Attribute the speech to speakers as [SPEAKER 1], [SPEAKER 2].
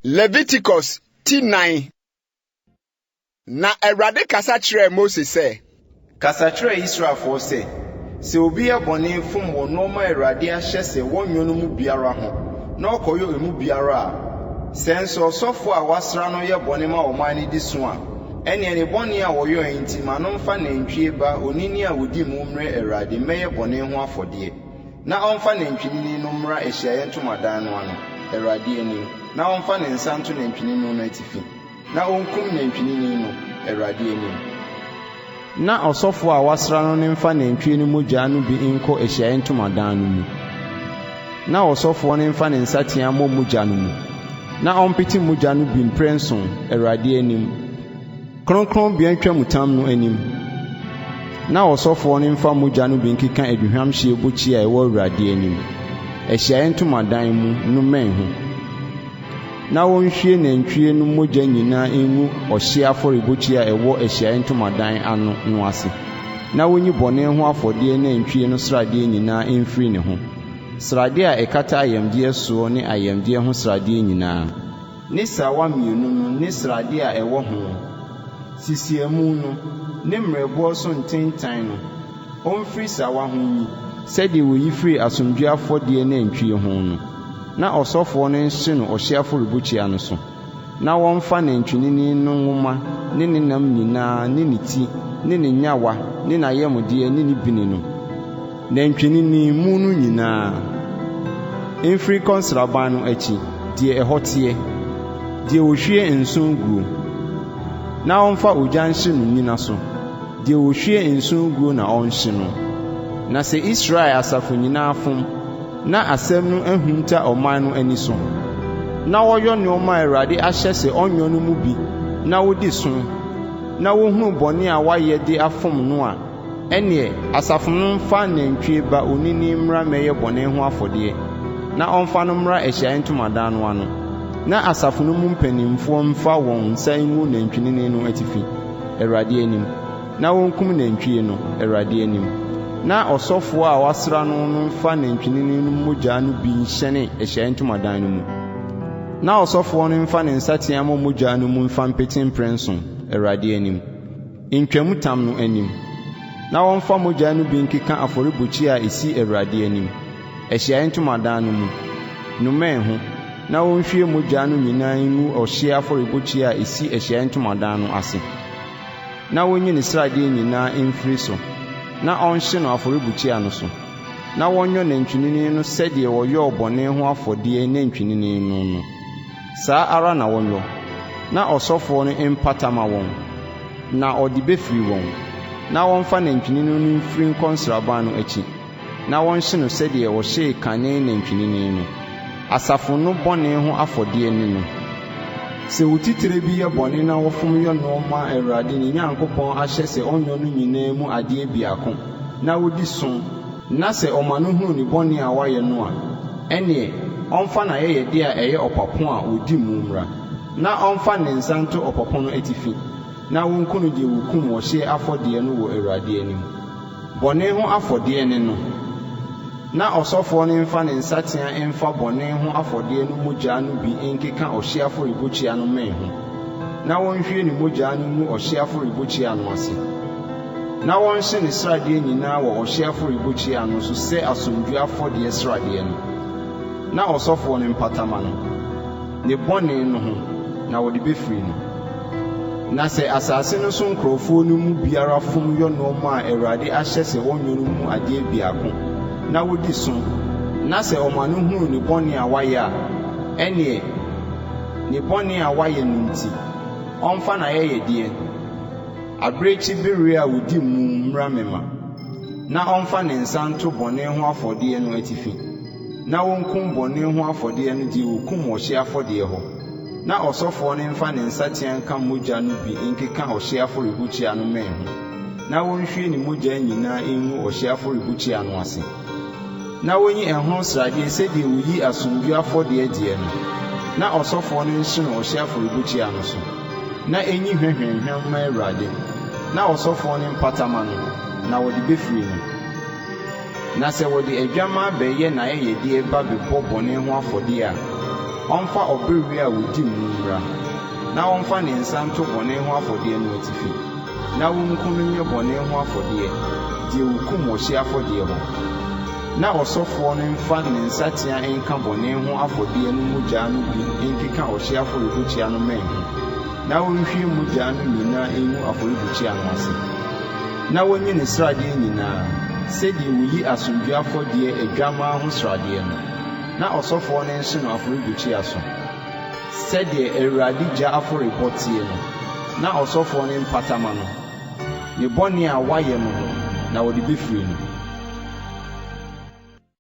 [SPEAKER 1] Leviticus ti nnan. Na Awurade kasa kyerɛɛ Mose sɛ. Kasa kyerɛ
[SPEAKER 2] Israelfoɔ sɛ, Sɛ obi yɛ bɔne fom wɔ nnoɔma a Awurade ahyɛ sɛ wɔnyɔ no mu biara ho na ɔkɔyɔ emu biara a, sɛ nso ɔsɔfoɔ a wɔasra no yɛ bɔne ma ɔman no di so a, ɛnneɛ ne bɔne a ɔyɔeɛ nti ma no mfa nantwie ba onini a ɔdi mu mmrɛ Awurade mmɛyɛ bɔne ho afɔdeɛ. Na ɔmfa nantwinini no mmra ahyiaeɛ ntomadan no ano, Awurade anim, na ɔmfa ne nsa nto nantwinini no atifi, na ɔnkum nantwinini no, Awurade anim.
[SPEAKER 3] Na ɔsɔfoɔ a wɔasra no no mfa nantwie no mogya no bi nkɔ ahyiaeɛ ntomadan no mu, na ɔsɔfoɔ no mfa ne nsateaa mmɔ mogya no mu, na ɔmpete mogya no bi mprɛnson, Awurade anim. Kronkronbea ntwamutam no anim, na ɔsɔfoɔ no mfa mogya no bi nkeka aduhwamhyeɛ bukyia a ɛwɔ Awurade anim, ahyiaeɛ ntomadan mu, no mmɛn ho, na ɔnhwie nantwie no mogya nyinaa ngu ɔhyeɛ afɔrebukyia a ɛwɔ ahyiaeɛ ntomadan ano no ase, na ɔnyi bɔne ho afɔdeɛ nantwie no sradeɛ nyinaa mfiri ne ho, sradeɛ a ɛkata ayamdeɛ soɔ ne ayamdeɛ ho sradeɛ nyinaa. ne srawa mmienu no ne sradeɛ a ɛwɔ ho, sisiamu no ne mmerɛboɔ so ntentan no, ɔmfiri srawa ho nyi, sɛdeɛ wɔyi firi asomdwoeɛ afɔdeɛ nantwie ho no, na ɔsɔfoɔ no nhye no ɔhyeɛ afɔrebukyia no so, na wɔmfa nantwinini no nwoma ne ne nam nyinaa ne ne ti ne ne nyawa ne n'ayamdeɛ ne ne bini no Nantwinini mu no nyinaa. Mfiri nkɔ nsraban no akyi, deɛ ɛhɔ teɛ, deɛ wɔhwie nsõ guo, na ɔmfa ogya nhye no nnyina so, deɛ wɔhwie nsõ guo na ɔnhye no. Na sɛ Israel asafo nyinaa fom, na asɛm no ahunta ɔman no ani so, na wɔyɔ nneɛma a Awurade ahyɛ sɛ ɔnyɔ no mu bi na wɔdi so, na wɔhunu bɔne a wɔayɛ de afom no a, Ɛnneɛ asafo no mfa nantwie ba onini mmra mmɛyɛ bɔne ho afɔdeɛ, na ɔmfa no mmra ahyiaeɛ ntomadan no ano, na asafo no mu mpanimfoɔ mfa wɔn nsa ngu nantwinini no atifi, Awurade anim, na wɔnkum nantwie no, Awurade anim, na ɔsɔfoɔ a wɔasra no no mfa nantwinini no mogya no bi nhyɛne ahyiaeɛ ntomadan no mu, na ɔsɔfoɔ no mfa ne nsateaa mmɔ mogya no mu mfa mpete mprɛnson, Awurade anim. ntwamutam no anim, na wɔmfa mogya no bi nkeka afɔrebukyia a ɛsi Awurade anim, ahyiaeɛ ntomadan no mu, no mmɛn ho, na wɔnhwie mogya no nyinaa ngu ɔhyeɛ afɔrebukyia a ɛsi ahyiaeɛ ntomadan no ase, na wɔnyi ne sradeɛ nyinaa mfiri so, na ɔnhye no afɔrebukyia no so, na wɔnyɔ nantwinini no sɛdeɛ wɔyɔɔ bɔne ho afɔdeɛ nantwinini no no. Saa ara na wɔnyɔ, na ɔsɔfoɔ no mpata ma wɔn, na ɔde bɛfiri wɔn, na wɔmfa nantwinini no mfiri nkɔ nsraban no akyi, na wɔnhye no sɛdeɛ wɔhyee kane nantwinini no. Asafo no bɔne ho afɔdeɛ ne no. Sɛ otitire bi yɛ bɔne na ɔfom yɔ nnoɔma a Awurade, ne Nyankopɔn ahyɛ sɛ ɔnyɔ no nyinaa mu adeɛ biako, na odi som, na sɛ ɔma no hunu ne bɔne a wayɛ no a, ɛnneɛ ɔmfa n'ayɛyɛdeɛ a ɛyɛ ɔpapo a wɔdi mu mmra, na ɔmfa ne nsa nto ɔpapo no atifi, na wɔnku no deɛ wɔkum ɔhyeɛ afɔdeɛ no wɔ Awurade anim. Bɔne ho afɔdeɛ ne no. Na ɔsɔfoɔ no mfa ne nsateaa mfa bɔne ho afɔdeɛ no mogya no bi nkeka ɔhyeɛ afɔrebukyia no mmɛn ho, na ɔnhwie ne mogya no ngu ɔhyeɛ afɔrebukyia no ase. na wɔnhye ne sradeɛ nyinaa wɔ ɔhyeɛ afɔrebukyia no so sɛ asomdwoeɛ afɔdeɛ sradeɛ no, na ɔsɔfoɔ no mpata ma no, ne bɔne no ho, na wɔde bɛfiri no. Na sɛ asase no so nkurɔfoɔ no mu biara fom yɔ nnoɔma a Awurade ahyɛ sɛ ɔnyɔ no mu adeɛ biako, na wɔdi so, na sɛ ɔma no hunu ne bɔne a wayɛ a, ɛnneɛ ne bɔne a wayɛ no nti, ɔmfa n'ayɛyɛdeɛ, Abirekyi bereɛ a ɔdi mmum mmra me ma, na ɔmfa ne nsa nto bɔne ho afɔdeɛ no atifi, na ɔnkum bɔne ho afɔdeɛ no deɛ ɔkum ɔhyeɛ afɔdeɛ hɔ, na ɔsɔfoɔ no mfa ne nsateaa nka mogya no bi nkeka ɔhyeɛ afɔrebukyia no mmɛn ho, na ɔnhwie ne mogya nyinaa ngu ɔhyeɛ afɔrebukyia no ase. na wonyi ɛho sradeɛ sɛdeɛ woyi asomdwoeɛ afɔdeɛ gyeɛ no, na ɔsɔfoɔ no nhye no ɔhyeɛ afɔrebukyia no so, na ɛnyi hwɛhwɛnhwɛn mma Awurade, na ɔsɔfoɔ no mpata ma no, na wɔde bɛfiri no. Na sɛ wɔde adwammaa bɛyɛ n'ayɛyɛdeɛ ba bɛbɔ bɔne ho afɔdeɛ a, ɔmfa ɔbereɛ a wɔdi mu mmra, na ɔmfa ne nsa nto bɔne ho afɔdeɛ no atifi. na wonku no nyɛ bɔne ho afɔdeɛ deɛ wɔkum ɔhyeɛ afɔdeɛ hɔ, na ɔsɔfoɔ no mfa ne nsatea nka bɔne ho afɔdeɛ no mogya no bi nkeka ɔhyeɛ afɔrebukyia no mmɛn ho, na ɔnhwie mogya no nyinaa ngu afɔrebukyia no ase, na wɔnyi ne sradeɛ nyinaa, sɛdeɛ wɔyi asomdwoeɛ afɔdeɛ adwammaa ho sradeɛ no, na ɔsɔfoɔ no nhye no afɔrebukyia so. Sɛdeɛ Awurade gya afɔrebɔ teɛ no, na ɔsɔfoɔ no mpata ma no, ne bɔne a wayɛ no ho na wɔde bɛfiri no.